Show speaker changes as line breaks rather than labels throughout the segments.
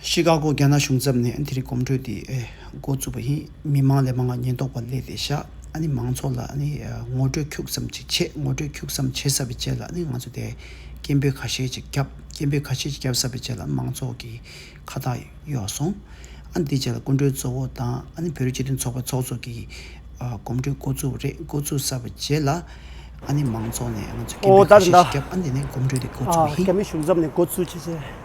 ཤི་ཀ་གོ་རྒྱ་ནག་གཞུང་ཚབ་ནས་དེ་རིང་གོམ་བགྲོད་དེ་མགོ་བཙུགས་པ་ཡིན། མི་མང་ལས་མང་བ་ཉེན་རྟོག་པ་གླས་ཏེ་བཞག་ཨ་ནི་མང་ཚོགས་ལ་ནི་ངོ་སྤྲོད་འཁྱུག་ཙམ་ཅིག་བྱེད་ངོ་སྤྲོད་འཁྱུག་ཙམ་བྱེད་ས་པའི་རྗེས་ལ་ནི་ང་ཚོ་དེ་སྐད་འབོད་ཁ་ཤས་ཅིག་བརྒྱབ་སྐད་འབོད་ཁ་ཤས་ཅིག་བརྒྱབ་ས་པའི་རྗེས་ལ་མང་ཚོགས་ཀྱི་ཁ་ཐག་གཡོགས་སོང། ཨ་ནི་དེའི་རྗེས་ལ་སྐུ་མགྲོན་གཙོ་བོ་དང་ཨ་ནི་བོད་རིགས་སྤྱི་མཐུན་ཚོགས་པའི་ཚོགས་གཙོ་གིས་གོམ་བགྲོད་མགོ་བཙུགས་རེད་མགོ་བཙུགས་ས་པའི་རྗེས་ལ་ཨ་ནི་མང་ཚོགས་ནས་ང་ཚོས་སྐད་འབོད་ཁ་ཤས་ཤིག་བརྒྱབ་ཨ་ནི་དེ་ནས་གོམ་བགྲོད་དེ་མགོ་བཙུགས་པ་ཡིན། རྒྱ་མི་གཞུང་ཚབ་ནས་མགོ་བཙུགས་
བྱས་རྗེས།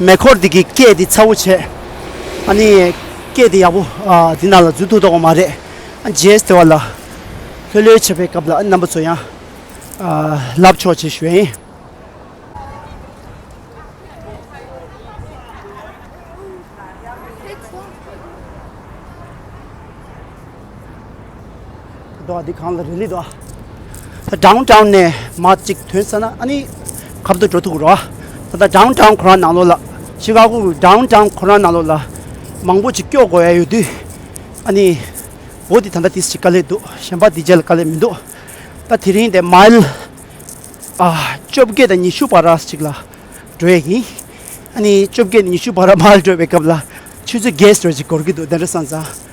མེ་འཁོར་འདི་གི་སྐད་འདི་ཚ་བོ་བྱས། ཨཱ་ནི། སྐད་འདི་ཡག་པོ། འདི་ནང་ལ་འཛུལ་འདུག་དོགས་པ་མ་རེད། རྗེས་དེ་བ་ལ། ལྷོད་ལྷོད་བྱེད་པའི་སྐབས་ལ་རྣམ་པ་ཚོ་ཡང། ལབ་ཆོག་ཅེས་ཞུ་བ་ཡིན། འདི་གང་ལ་རེ་ལི་འདོག་དྲང་དྲང་ནས་མ་ཅིག་དོན་ས་ན་ཨ་ནི་གབ་ཏུ་འགྲོ་ཐུག་རོ་ད་ལྟ་དྲང་དྲང་ཁོ་རང་ནང་ལོག་ལ་ཤི་ག་གུ་དྲང་དྲང་ཁོ་རང་ནང་ལོག་ལ་མང་པོ་ཅིག་སྐྱོག་དགོས་ཡ་ཡོད་དུས་ཨ་ནི་འོ་དེ་ད་ལྟ་དེ་ཞིག་ག་ལེ་འདུག་གཞན་པ་དེ་རྗེས་ལ་དཀའ་ལས་མི་འདུག་ད་དེ་རིང་དེ་མལ་ཨ་བཅོ་བརྒྱད་དང་ཉི་ཤུ་བར་ར་ཅིག་ལ་འགྲོ་ཡ་ཡིན་ཨ་ནི་བཅོ་བརྒྱད་ནས་ཉི་ཤུ་བར་ར་མལ་འགྲོ་བའི་སྐབས་ལ་ཆུ་ཚོད་བརྒྱད་ཟོལ་ཅིག་འགོར་གི་འདུག་དེ་འདྲ་སོང་ཙང་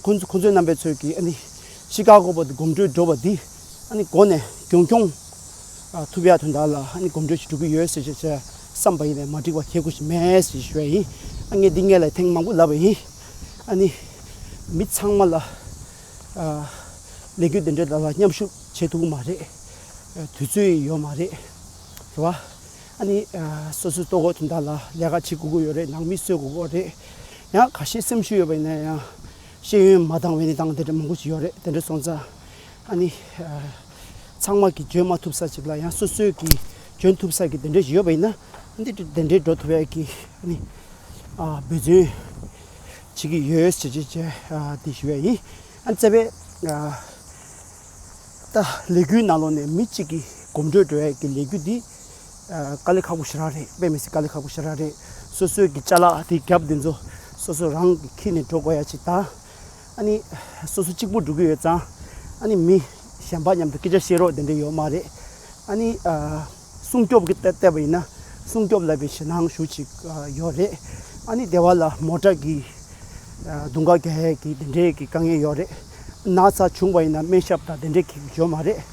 ཁོ་ཚོའི་རྣམ་པའི་ཚོད་ཀྱིས་ཤི་ཀ་གོ་བ་དང་གོམ་འགྲོས་འགྲོ་བ་འདི་གོ་ནས་རྒྱུན་འཁྱོངས་ཐུབ་ཡ་དོན་དག་ལ་གོམ་འགྲོས་ཤིག་འགྲོ་གི་ཡོད་ཟེར་བཞིན་བསམ་པ་ཡིན་ལ་མ་འགྲིག་པ་ཁྱེད་སྐུ་ཞིག་མེད་ཟེར་བཞིན་ཞུ་བ་ཡིན། ངས་འདི་ངས་ལ་ཐེངས་མང་པོ་ལབ་པ་ཡིན། ཨ་ནི་མི་ཚང་མ་ལ་ལས་འགུལ་འདི་འདྲའི་དག་ལ་མཉམ་ཞུགས་བྱེད་ཐུབ་ཀྱི་མ་རེད། དུས་ཚོད་ཡོད་མ་རེད། རེད་བ། ཨ་ནི་སོ་སོའི་ལྟོ་གོས་དོན་དག་ལ་ལས་ཀ་བྱེད་དགོས་ཀྱི་ཡོད་རེད་ནང་མི་གསོད་དགོས་ཀྱི་རེད། ཡང་ཁ་ཤས་སེམས་ཤུགས་ཡོད་པ་ཡིན་ན་ཡང་ཤེས་ཡོན་མ་བཏང་བའི་ནི་བཏང་དེ་འདྲ་མང་པོ་ཞིག་ཡོད་རེད་དེ་འདྲ་སོང་ཙང་ཨ་ནི་ཚང་མ་གིས་འཇོན་མ་ཐུབ་ས་ཅིག་ལ་ཡང་སོ་སོས་ཀྱིས་འཇོན་ཐུབ་ས་ཀྱི་དེ་འདྲ་ཞིག་ཡོད་པ་ཡིན་ན་འདི་འདྲ་དེ་འདྲས་འགྲོ་ཐུབ་ཡ་གི་ཨ་ནི་འབད་བརྩོན་བྱེད་ཀྱི་ཡོད་ཟེར་བྱེད་བྱེད་དེ་ཞུ་བ་ཡིན་ཨ་ནི་བཙལ་བས་ད་ལས་འགུལ་ནང་ལོགས་ནས་མི་གཅིག་གིས་གོམ་བགྲོད་འགྲོ་ཡ་གི་ལས་འགུལ་འདི་དཀའ་ལས་ཁག་པོ་ཞེ་དྲག་རེད་དཔེ་མི་སྲིད་དཀའ་ལས་ཁག་པོ་ཞེ་དྲག་རེད་སོ་སོའི་གི་བཅའ་ལག་དེ་རྒྱབ་དེ་ཚོ་སོ་སོ་རང་གི་ཁྱི་ནས་འགྲོ་དགོས་ཡ་ཅིག་དང་ཨ་ནི་སོ་སོ་གཅིག་པོ་འགྲོ་གི་ཡོད་ཙང་ཨ་ནི་མི་གཞན་པ་མཉམ་དུ་སྐད་ཆ་བཤད་རོགས་དེ་འདྲ་ཡོད་མ་རེད་ཨ་ནི་སྲུང་སྐྱོབ་གི་ལྟ་བ་ཡིན་ན་སྲུང་སྐྱོབ་ལ་བའི་ཞེད་སྣང་ཞུ་ཅིག་ཡོད་རེད་ཨ་ནི་དེ་བ་ལ་མོ་དྲག་གི་དུང་དཀར་རྒྱ་ཡས་གི་དེ་འདྲའི་གི་དཀའ་ངལ་ཡོད་རེད་ན་ཚ་བྱུང་བ་ཡིན་ན་སྨན་ཞབས་དང་དེ་འདྲའི་གི་ཡོད་མ་རེད།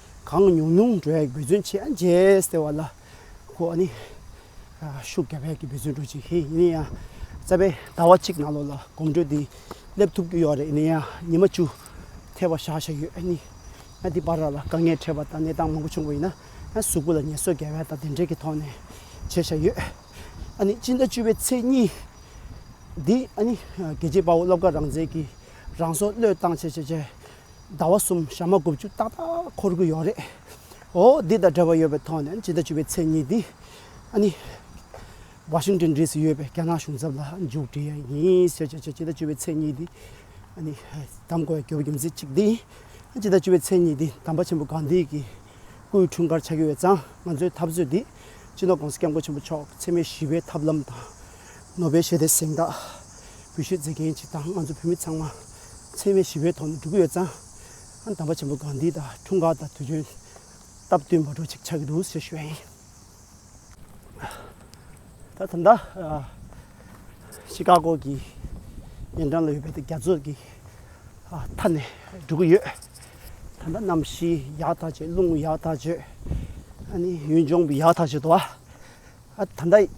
གང་ཉུང་ཉུང་འགྲོས་འབད་བརྩོན་བྱས་ཨ་མཇལ་ཟེར་བ་ལ་ཁོ་ནི་ཤུགས་རྒྱབ་ཡ་གི་འབད་བརྩོན་འགྲོ་བྱེད་མཁན་ཡིན་ཡིན་ཡང་རྩ་བའི་ཟླ་བ་གཅིག་ནང་ལོགས་ལ་གོམ་འགྲོས་འདི་སླེབས་ཐུབ་ཀྱི་ཡོད་རེད་ཡིན་ཡང་ཉི་མ་བཅུ་ཐལ་བ་བཞག་བཞག་ཡོད་ཨེ་ཡིན་ཨ་འདི་པར་ར་ལ་དཀའ་ངལ་འཕྲད་པ་དང་གནས་སྟངས་མང་པོ་བྱུང་བ་ཡིན་ན་ཨ་གཟུགས་པོ་ལ་ཉེས་གསོད་རྒྱལ་བལ་དང་དེ་འབྲེལ་གྱི་ཐོག་ནས་བྱས་བཞག་ཡོད་ཨ་ནི་སྤྱི་ཟླ་བཅུ་བའི་ཚེས་གཉིས་འདི་ཨ་ནི་རྒྱལ་གཅེས་དཔའ་བོ་སློབ་དགའ་རང་བཙན་གྱིས་རང་སྲོག་བློས་བཏང་བྱས་བྱས་བྱས་ཟླ་བ་གསུམ་ཞག་མ་དགུ་བཅུ་ཏག་ཏག་འཁོར་གྱི་ཡོད་རེད། འོ་འདི་དང་འབྲེལ་བ་ཡོད་པའི་ཐོག་ནས་ཇི་ལྟར་བྱས་པའི་མཚན་ཉིད་འདི་ཨ་ནི། Washington ཟེར་གྱི་ཡོད་པའི་རྒྱ་ནག་གཞུང་ཚབ་ལ་མཇུག་བསྒྲིལ་ཡ་ཡིན་ཟེར་གྱི་ཇི་ལྟར་བྱས་པའི་མཚན་ཉིད་འདི་ཨ་ནི། གདམ་དགོས་ཡ་གྱོད་པའི་རྒྱུ་མཚན་གཅིག་འདི་ཡིན། ཇི་ལྟར་བྱས་པའི་མཚན་ཉིད་འདི་དམ་པ་ཆེན་པོ་གང་དེའི་གི་སྐུའི་འཁྲུངས་སྐར་ཆགས་ཀྱི་ཡོད་ཙང་ང་ཚོའི་འཐབ་རྩོད་འདི་སྤྱི་ནོར་ཀོང་སི་སྐྱབས་མགོན་ཆེན་པོ་མཆོག་འཚེ་མེད་ཞི་བའི་ཐབས་ལམ་དང་ནོ་སྦེལ་ཞི་བདེ་གཟེངས་རྟགས་འབུལ་བཞེས་མཛད་མཁན་གཅིག་དང་ང་ཚོ་བོད་མི་ཚང་མ་འཚེ་བའི་ཞི་བའི་ཐོག་ནས་འགྲོ་གི་ཡོད་ཙང། དམ་པ་ཆེན་པོ་གང་དེའི་དང་འཁྲུངས་སྐར་དང་དུས་སྟོན་སྟབས་བསྟུན་པར་འགྲོ་ཆེད་ཆགས་ཀྱི་འདུག་ཟེར་ཞུ་བ་ཡིན། ད་ཐོག་མཐའ་ཤི་ཀ་གོ་གི་ཉེ་འགྲམ་ལ་ཡོད་པའི་རྒྱ་མཚོ་གི་མཐའ་ནས་འགྲོ་གི་ཡོད། ད་ལྟ་གནམ་གཤིས་ཡག་ཐག་ཆོད་རླུང་ཡག་ཐག་ཆོད། ཨ་ནི་ཡུལ་ལྗོངས་ཡག་ཐག་ཆོད་དོ། ད་ལྟ་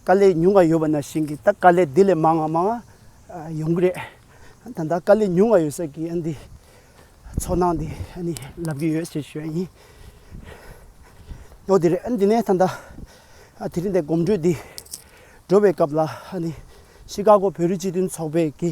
དཀའ་ལས་ཉུང་བ་ཡོད་པ་ན་བཞིན་གྱི་ད་དཀའ་ལས་དེ་ལས་མང་བ་མང་བ་ཡོང་གི་རེད། ད་ལྟ་དཀའ་ལས་ཉུང་བ་ཡོད་ས་ཀྱི་འདི་ཚོར་སྣང་དེ་ནི་ལབ་ཀྱི་ཡོད་ཞེས་ཞུ་བ་ཡིན། ཡོད་དེ་རེད། འདི་ནས་ད་ལྟ་དེ་རིང་འདི་གོམ་བགྲོད་འདི་འགྲོ་བའི་སྐབས་ལ་ཤི་ཀ་གོ་བོད་རིགས་སྤྱི་མཐུན་ཚོགས་པའི་གི་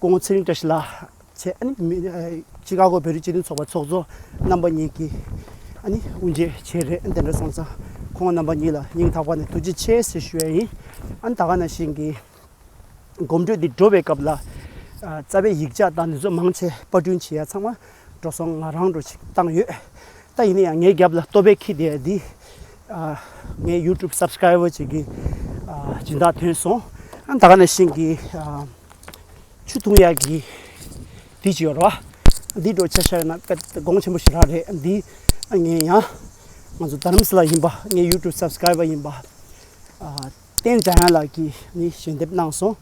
ཀོང་ཚེ་རིང་བཀྲ་ཤིས་ལགས། ཆི་ཀ་གོ་བོད་རིགས་སྤྱི་མཐུན་ཚོགས་པ་ཚོགས་གཙོ་རྣམ་པ་གཉིས་ཀྱི་དབུ་འབྱེད་བྱས་རེད་དེ་འདྲ་སོང་ཙང་ཁོང་རྣམ་པ་གཉིས་ལ་སྙིང་ཐག་པ་ནས་ཐུགས་རྗེ་ཆེ་ཟེར་ཞུ་ཡ་ཡིན། ད་ག་ནང་བཞིན་གྱི་གོམ་བགྲོད་འདི་འགྲོ་བའི་སྐབས་ལ་རྩ་བའི་ཡིག་ཆ་དང་ནུས་ཚོད་མང་ཆེ་པར་སྐྲུན་བྱས་ཡ་ཚང་མ་འགྲོ་སོང་ང་རང་འགྲོ་ཆིག་བཏང་ཡོད། ད་ཡིན་ན་ཡང་ངའི་རྒྱབ་ལ་ལྟོ་ཕད་ཁྱི་དེ་འདི་ངའི YouTube Subscriber ཅིག་གིས་སྦྱིན་བདག་ཐོན་སོང་ད་ག་ནས་ཤིང་གི་ཆུ་འཐུང་ཡག་གི་དེ་ཅི་ཡོད་ར་བ་འདི་འགྲོ་ཆ་ཤ་ཡོད་ན་དཀའ་དགོངས་ཆེན་པོ་ཞིག་རག་རེད་འདི་ངའི་ཡང་ང་ཚོ་དྷ་རམ་ས་ལ་ཡིན་པ་ངའི YouTube Subscriber ཡིན་པ་བསྟན་བྱ་ཡན་ལག་གིས་ནི་ཞལ་འདེབས་གནང་སོང་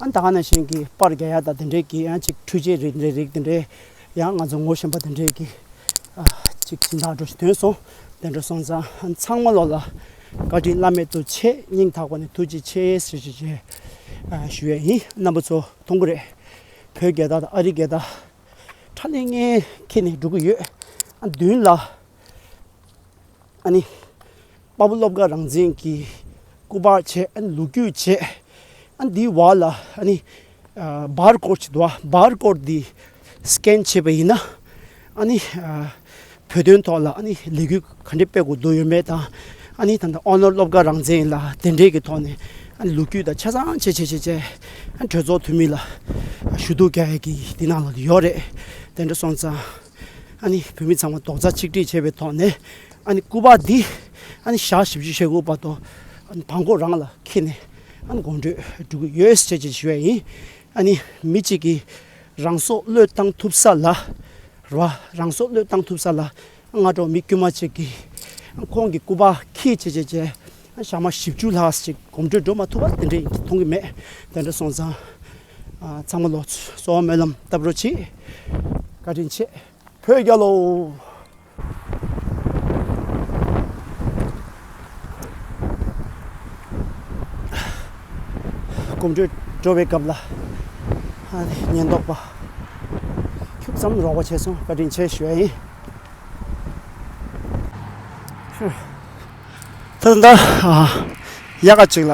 ད་ག་ནས་བཞིན་གྱི་པར་རྒྱ་ཡག་དང་དེ་འདྲས་ཀྱི་ཡང་ཅིག་འཕྲུལ་ཆས་རིག་འདྲས་རིག་དེ་འདྲས་ཡང་ང་ཚོ་ངོ་བཞིན་པ་དེ་འདྲས་ཀྱི་ཅིག་སྦྱིན་བདག་འགྲོ་དོན་སོང་དེ་འདྲ་སོང་ཙང་ཚང་མ་ལོག་ལ་བཀའ་དྲིན་བླ་མེད་དུ་ཆེ་སྙིང་ཐག་པ་ནས་ཐུགས་རྗེ་ཆེ་ཞེས་ཞུ་བྱས་ཞུ་བས་ཡིན་རྣམ་པ་ཚོ་མཐོང་གི་རེད་བོད་རྒྱལ་དག་དང་ཨ་རི་རྒྱལ་དག་ཁྲ་ལེ་ངེ་ཁེ་ནས་འགྲོ་གི་ཡོད་ཨ་མདུན་ལ། ཨ་ནི། དཔའ་བོ་སློབ་དགའ་རང་བཙན་གྱི་སྐུ་པར་བྱས་ཨ་ནི་ལུག་ཁྱུ་བྱས་ཨ་ནི་དེའི་བར་ལ་ཨ་ནི་སྦར་གོར་བྱེད་དོ་སྦར་གོར་དེ Scan བྱས་པ་ཡིན་ན་ཨ་ནི་བོད་དོན་ཐོག་ལ་ཨ་ནི་ལས་འགུལ་ག་འདྲའི་སྤེལ་དགོས་དོན་ཡོད་མེད་དང་ཨ་ནི་ད་ལྟ་ཨོ་ནོར་སློབ་དགའ་རང་བཙན་ལ་དེ་འབྲེལ་གྱི་ཐོག་ནས་ཨ་ནི་ལུག་ཁྱུ་དང་ཆ་ཚང་བྱས་བྱས་བྱས་བྱས་གྲོས་ཚོགས་འཐུས་མི་ལ་ཞུ་གཏུག་རྒྱག་ཡ་གི་དེ་ནང་ལ་ཡོད་རེད་དེ་འདྲ་སོང་ཙང། ཨཱ་ནི་བུད་མེད་ཚང་མ་རྡོག་རྩ་ཆིག་སྒྲིལ་བྱས་པའི་ཐོག་ནས་ཨཱ་ནི་སྐུ་པར་འདི་ཨཱ་ནི་ཞག་བཞི་བཅུ་ཞེ་དགུ་བར་དུ་ཨཱ་ནི་དང་པོ་རང་ལ་འཁྱེར་ནས་ཨཱ་ནི་དགོངས་འགྲེལ་སྒྲུབ་ཀྱི་ཡོད་ཅེས་བརྗོད་བཞིན་པ་ཡིན། ཨཱ་ནི་མི་གཅིག་གིས་རང་སྲོག་བློས་བཏང་ཐུབ་ས་ལ་ར་བ་རང་སྲོག་བློས་བཏང་ཐུབ་ས་ལ་སྔ་དྲོ་མི་དཀྱུས་མ་གཅིག་གིས་ཁོང་གི་སྐུ་པར་འཁྱེར་ཅེས་བརྗོད་བྱས་ཞག་མ་བཞི་བཅུ་ལྷག་ཅིག་གོམ་བགྲོད་འགྲོ་མ་ཐུབ་པ་དེ་འདྲའི་མཐོང་གི་མེད་དེ་འདྲ་སོང་ཙང། ཚང་མ་ལོ་གསོལ་བ་སྨོན་ལམ་བཏབ་རོགས་གྱིས་བཀའ་དྲིན་ཆེ་བོད་རྒྱལ་ལོ། གོམ་འགྲོས་འགྲོ་བའི་སྐབས་ལ་ཉེན་རྟོག་པ་ཁྱུག་ཙམ་རོགས་པ་བྱས་སོང་བཀའ་དྲིན་ཆེ་ཞུ་ཡ་ཡིན། ད་ལྟ་ཡག་ག་ཅིག་ལ་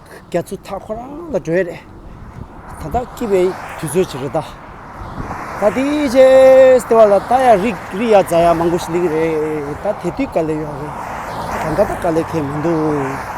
རྒྱ་མཚོའི་མཐའ་ཁོ་རང་ལ་བགྲོད་ཡས་རེད། ད་ལྟ་སྐྱིད་པའི་དུས་ཚོད་ཅིག་རེད་ད། ད་དེའི་རྗེས་ལྟེ་བ་ལ་ལྟ་ཡ་རིག་རིག་ཡ་རྫ་ཡ་མང་པོ་ཞིག་ལེགས་རེད་ད་དེ་དུས་དཀའ་ལས་ཡོད་རེད། ད་ད་ལྟ་དཀའ་ལས་ཁེལ་མི་འདུག།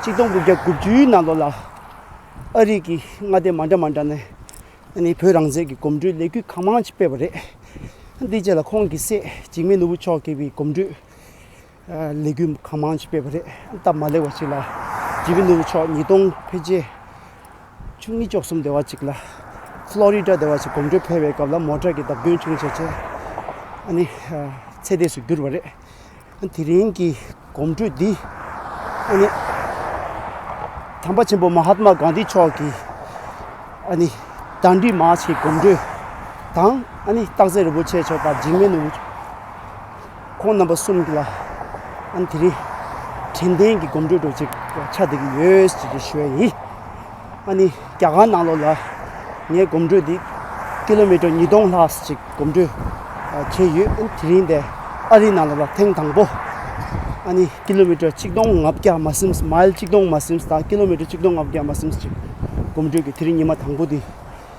གཅིག་སྟོང་དགུ་བརྒྱ་དགུ་བཅུའི་ནང་ལོ་ལ་ཨ་རིག་གི་མངའ་སྡེ་མ་འདྲ་མ་འདྲ་ནས་ནི་བོད་རང་བཙན་གྱི་གོམ་བགྲོད་ལས་འགུལ་གང་མང་ཅིག་སྤེལ་བ་རེད། དེའི་རྗེས་ལ་ཁོང་གི་སྲས་འཇིགས་མེད་ནོར་བུ་མཆོག་གིས་བའི་གོམ་བགྲོད་ལས་འགུལ་གང་མང་ཅིག་སྤེལ་བ་རེད། སྟབས་མ་ལེགས་པ་ཞིག་ལ་འཇིགས་མེད་ནོར་བུ་མཆོག་ཉིས་སྟོང་ཕལ་ཆེར་བཅུ་གཉིས་བཅུ་གསུམ་སྡེ་བ་ཅིག་ལ་ཕ་ལོ་རི་ཏྲ་སྡེ་བ་ཞིག་གོམ་བགྲོད་ཕེབས་པའི་སྐབས་ལ་མོ་ཏྲར་གྱི་བརྡབ་སྐྱོན་བྱུང་བྱས་རྗེས་ནི་ཚེ་འདས་སུ་གྱུར་བ་རེད། དེ་རིང་གི་གོམ་བགྲོད་འདི་ཨ་ནི་དམ་པ་ཆེན་པོ་མ་ཧཱ་ཏི་མ་གཱན་དྷི་མཆོག་གི་ཨ་ནི་དགྲ་འདུལ་མ་ཞེས་གོམ་བགྲོད་དང་ཨ་ནི་སྟག་རྩེ་རིན་པོ་ཆེ་མཆོག་དང་འཇིགས་མེད་ནོར་བུ་ཁོང་རྣམ་པ་གསུམ་ལ་ཨ་ནི་དེ་རིང་དྲན་རྟེན་གྱི་གོམ་བགྲོད་གྲོལ་ཆེད་ཆ་འདེབས་ཀྱི་ཡོད་ཅེས་ཞུ་བ་ཡིན། ཨ་ནི་རྒྱ་གར་ནང་ལོགས་ལ་ངའི་གོམ་འགྲོས་འདི་ཀི་ལོ་མི་ཀྲོ་ཉིས་སྟོང་ལྷག་ཅིག་གོམ་འགྲོས་བྱས་ཡོད། དེ་རིང་འདི་ཨ་རི་ནང་ལོགས་ལ་ཐེངས་དང་པོ་ཨ་ནི་ཀི་ལོ་མི་ཀྲོ་གཅིག་སྟོང་ང་བརྒྱ་མ་སིམས་མཱིལ་གཅིག་སྟོང་མ་སིམས་དང་ཀི་ལོ་མི་ཀྲོ་གཅིག་སྟོང་ང་བརྒྱ་མ་སིམས་ཅིག་གོམ་འགྲོས་ཀྱི་དེ་རིང་ཉི་མ་དང་པོ་འདི།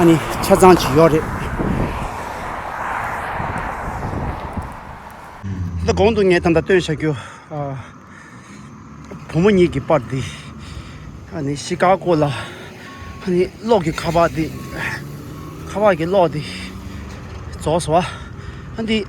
ཨ་ནི་ཆ་ཚང་བྱེད་ཡོད་རེད། ད་ལྟ་གོང་དུ་ངས་ད་ལྟ་སྟོན་བྱ་རྒྱུ། བུ་མོ་གཉིས་ཀྱི་པར་འདི། ཨ་ནི་ཤི་ཀ་གོ་ལ། ཨ་ནི་གློག་གི་ཁ་བ་འདི། ཁ་བ་གི་གློག་འདི། རྫོགས་སོང། ཨ་འདི།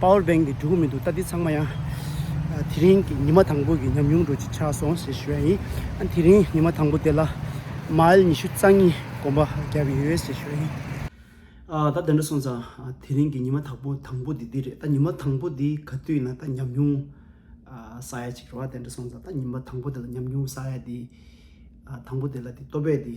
Power Bank གི་འགྲོ་གི་མི་འདུག་ད་འདི་ཚང་མ་ཡང་དེ་རིང་གི་ཉི་མ་དང་པོ་གི་ཉམས་མྱོང་འགྲོ་གཅིག་ཆགས་སོང་ཞེས་ཞུ་ཡ་ཡིན་ཨ་དེ་རིང་ཉི་མ་དང་པོ་དེ་ལ Mile ཉི་ཤུ་རྩ་གཉིས་གོམ་པ་བརྒྱབ་ཡོད་ཞེས་ཞུ་ཡ་ཡིན། ཨ་ད་དེ་འདྲ་སོང་ཙང་དེ་རིང་གི་ཉི་མ་དག་པོ་དང་པོ་དེ་འདི་རེད་ད་ཉི་མ་དང་པོ་འདི་ག་དུས་ན་ད་ཉམས་མྱོང་ཟ་ཡ་གཅིག་རེད་ཨ་དེ་འདྲ་སོང་ཙང་ད་ཉི་མ་དང་པོ་དེ་ལ་ཉམས་མྱོང་ཟ་ཡ་དེ་དང་པོ་དེ་ལ་དེ་ལྟོ་ཕད་དེ།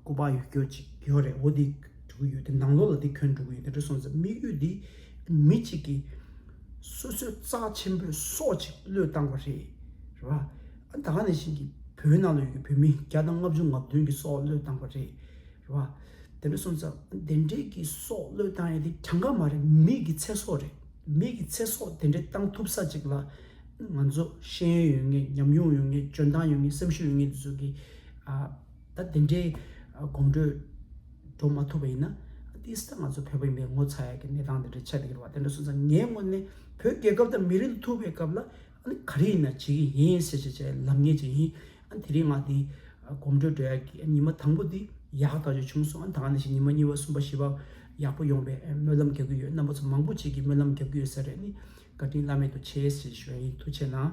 སྐུ་པར་ཡོད་ཁྱོད་ཅིག་ཡོད་རེད་འོ་འདི་འགྲོ་གི་ཡོད་དེ་ནང་ལོགས་ལ་འདི་ཁྱོད་འགྲོ་གི་ཡོད་དེ་འདྲ་སོང་ཙང་དམིགས་ཡུལ་འདི་མི་གཅིག་གིས་སོ་སོའི་རྩ་ཆེན་པོས་སྲོག་ཅིག་བློས་བཏང་བ་རེད་རེད་པ། ད་ག་ནས་བཞིན་གྱི་བོད་ནང་ལ་ཡོད་ཀྱི་བོད་མི་བརྒྱ་དང་ལྔ་བཅུ་ལྔ་བདུན་གྱི་སྲོག་བློས་བཏང་བ་རེད་
རེད་པ། དེ་འདྲ་སོང་ཙང་དེ་འདྲའི་གི་སྲོག་བློས་བཏང་ཡ་དེ་གྲངས་ཀ་མ་རེད་མི་གི་ཚེ་སྲོག་རེད་མི་གི་ཚེ་སྲོག་དེ་འདྲའི་བཏང་ཐུབ་ས་ཅིག་ལ་ང་ཚོ་ཤེས་ཡོན་ཡོད་ངེས་ཉམས་མྱོང་ཡོད་ངེས་འཇོན་ཐང་ཡོད་ངེས་སེམས་ཤུགས་ཡོད་ངེས་འདི་ཚོ་གི་ད་དེ་འདྲའི་གོམ་འགྲོས་འགྲོ་མ་ཐུབ་པ་ཡིན་ན། འདི་སྲིད་ད་ང་ཚོ་བོད་པ་ཡིན་པས་ངོ་ཚ་ཡག་གི་གནས་སྟངས་དེ་འདྲ་ཆགས་ཀྱི་ཡོད་པ་དེ་འདྲ་སོང་ཙང་ངའི་སྔོན་ནས་བོད་རྒྱལ་ཁབ་དང་མི་རིགས་འདི་ཐུབ་པའི་སྐབས་ལ་ག་རེ་ཡིན་ན་བྱེད་ཀྱི་ཡིན་ཟེར་བྱས་བྱས་ལབ་ངེས་ཅིག་ཡིན། དེ་རིང་ང་འདི་གོམ་འགྲོས་འགྲོ་ཡག་གི་ཉི་མ་དང་པོ་འདི་ཡག་ཐག་ཆོད་བྱུང་སོང་ད་ནས་བཞིན་ཉི་མ་གཉིས་པ་གསུམ་པ་བཞི་པ་ཡག་པོ་ཡོང་བའི་སྨོན་ལམ་རྒྱག་གི་ཡོད་རྣམ་པ་ཚོ་མང་པོ་ཅིག་གིས་སྨོན་ལམ་རྒྱག་གི་ཡོད་ས་རེད་ནི་བཀའ་དྲིན་བླ་མེད་དུ་ཆེ་ཞེས་ཞུ་བ་ཡིན་ཐུགས་ཆེ་གནང།